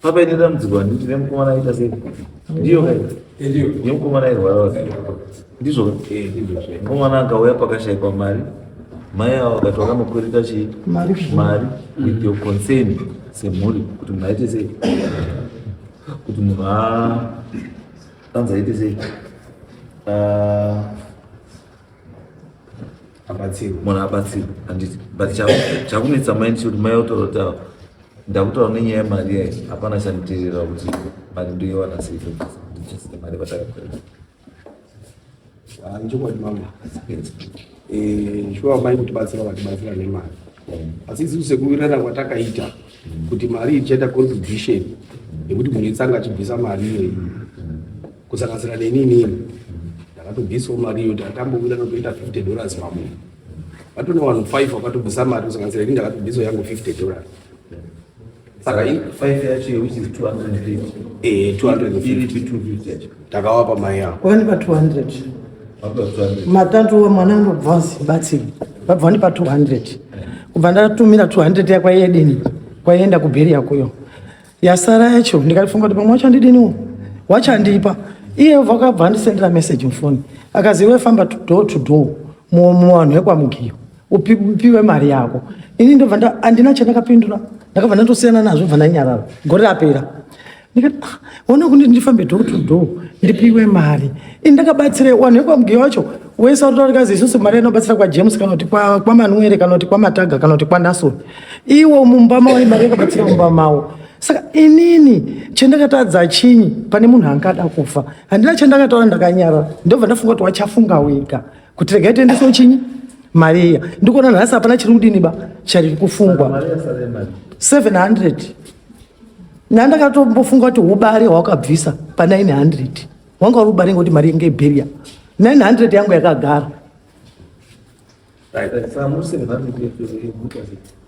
Papa ini da mdziko handiti nemukomana aita sei ndiyo kai nemukomana airwara ndizvo mukomana akauya pakashaikwa mari mai avo vakati vakamukwereta chii mari with your concern semhuri kuti munhu aite sei kuti munhu anzi aite sei munhu abatsirwe handiti but chakunetsa mai ndichikuti mai otaura kuti ava ndakutaura nenyaya yemari yayi hapana chanditirira kuti mari ndoiwana sei ndichasina mari vatakakorera ichokwadi mama shuwa mai kutibatsira vatibatsira nemari asi isisu sekuwirirana kwatakaita kuti mari ichaita contribution yekuti munhu itsanga achibvisa mari iyoyi kusanganisira neni inini ndakatobvisawo mari iyo takambouya notoita 50 dollars pamunhu vatone vanhu five vakatobvisa mari kusanganisira ini ndakatobvisawo yangu 50 dollars saka five yacho which is 200 eh 250 takawapa mai yavo kwani pa 200 matatu mwana anobva zibatsiri vabva ndipa 200 kubva ndatumira 200 yakwa yedini kwaienda kubheri yakuyo yasara yacho ndikatofunga kuti pamwe wachandidiniwo wachandipa iye vakabva andisendera message mufoni akazi iwe famba door to door muvanhu vekwamugiyo upiwe mari yako ini ndobva andina chandakapindura ndakabva ndatosiyana nazvo bva ndanyarara gore rapera ndikati ah, ona kundi ndifambe door to door ndipiwe mari ini ndakabatsira wanhu vekwamugiyo wacho wese watotaura kazi isusu mari inobatsira kwajames kana kuti kwamanwere kana kuti kwamataga kana kuti kwanasoni iwo mumba mavo imari yakabatsira mumba mavo saka inini chendakatadza chinyi pane munhu angada kufa handina chendakataura ndakanyara ndobva ndafunga kuti wachafunga wega kuti regai tiendesewo chinyi mari iya ndikuona nhasi hapana chiri kudini ba chari kufungwa 700 nandakatobofunga kuti ubare hwakabvisa pa 900 wanga uri kubara ngoti mari yenge barrier 900 yangu yakagara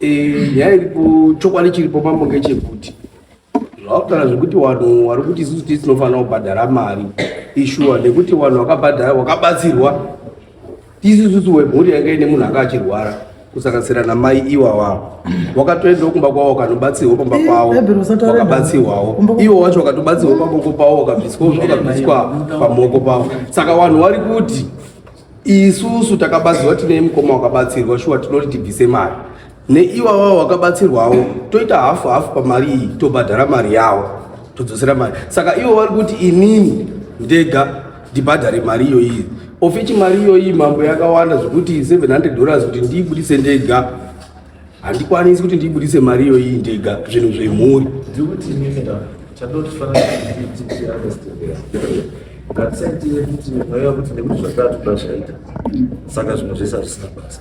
eh, nyaya iripo chokwadi chiripo mambo ngechekuti zvautaura zvekuti vanhu vari kuti isusu tisi tinofanira kubhadhara mari ishuwa nekuti vanhu vakabhadhara vakabatsirwa Tisu susu wemhuri yanga ine munhu anga achirwara kusanganisira namai iwawa wakatoendawo kumba kwavo wakanobatsirwa pamba Eh, pavo Bible usataure wakabatsirwawo Kumba kwavo. iwo wacho wakatobatsirwa pamoko pavo wakabviswawo zvakabviswa pamoko pavo saka vanhu vari kuti isusu takabatsirwa tine mukoma wakabatsirwa shuwa tinoti tibvise mari neiwawa wakabatsirwawo toita hafu hafu pamari iyi tobhadhara mari yawo todzosera mari saka ivo vari kuti inini ndega ndibhadhare mari iyoyi ofichi mari iyoyi mambo yakawanda zvekuti 700 dollars kuti ndiibudise ndega handikwanisi kuti ndiibudise mari iyoyi ndega zvinhu zvemhuri ngatisaitirekuti mweya kuti nekuti zvakatobva zvaita saka zvimwe zvese hazvisina basa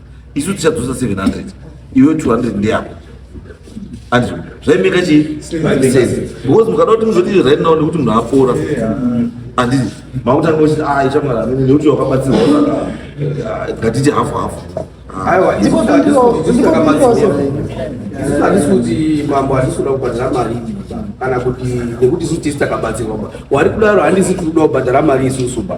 isu tichadzosa 700 iwe 200 ndeyako ati zvaimeka chii because mukada kuti muzoti right now nekuti munhu apora andii makutanga kuti a ichamara amene nekuti wakabatsirwa ngatiti hafu hafu aiwa handisi kuti mambo handisi kuda kubhadhara mari kana kuti nekuti isu tisi takabatsirwa wari kudaro handisi tiri kuda kubhadhara mari isusu ba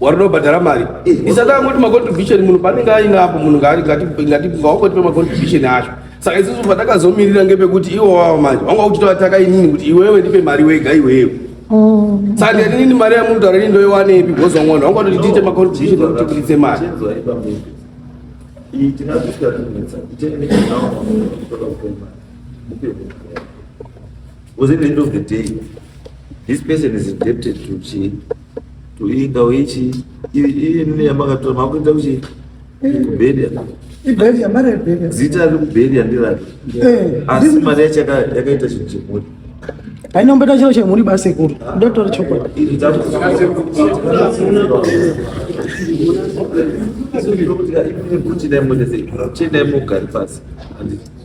warudo bhadhara mari isaka angoti macontribution munhu panenge ainapo munhu ngaatiaokotipe macontribution acho saka isusu patakazomirira ngepekuti iwo wavo manje vanga uchitovataka inini kuti iwewe ndipe mari wega iwewe oh. saka ndiyati nini mari yamunhu taura ini ndoiwanepi bhozi wangwana vanga kuti tiite macontribution ekuti kuritse mari Was it the end of the day? This person is indebted to G. tuinga ichi iyi nini yamakatora makuita kuchi kubhedha ibhedha mari yebhedha zita ari kubhedha ndirati eh, asi mari yacho yakaita chinhu chemhuri haina kumbeta chiro chemhuri basi kuru ndotora chokwadi chindaimogari pasi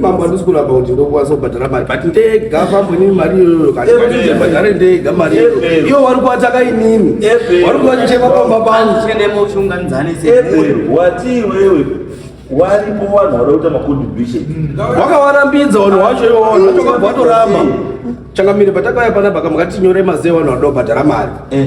Mambo handisi kuramba kuti ndokwanisa kubhadhara mari but ndega mambo inini mari iyoyo kanibhadhare ndega mari iyoyo iyo wari kuvataka inini wari kuvatichema pamba panguwati iwewe waripo vanhu vanoita macontribution mm. wakavarambidza vanhu wacho iwo vanhu vacho kabva vatoramba changamire patakauya panapa kamukati tinyore mazee vanhu vanoda kubhadhara mari eh.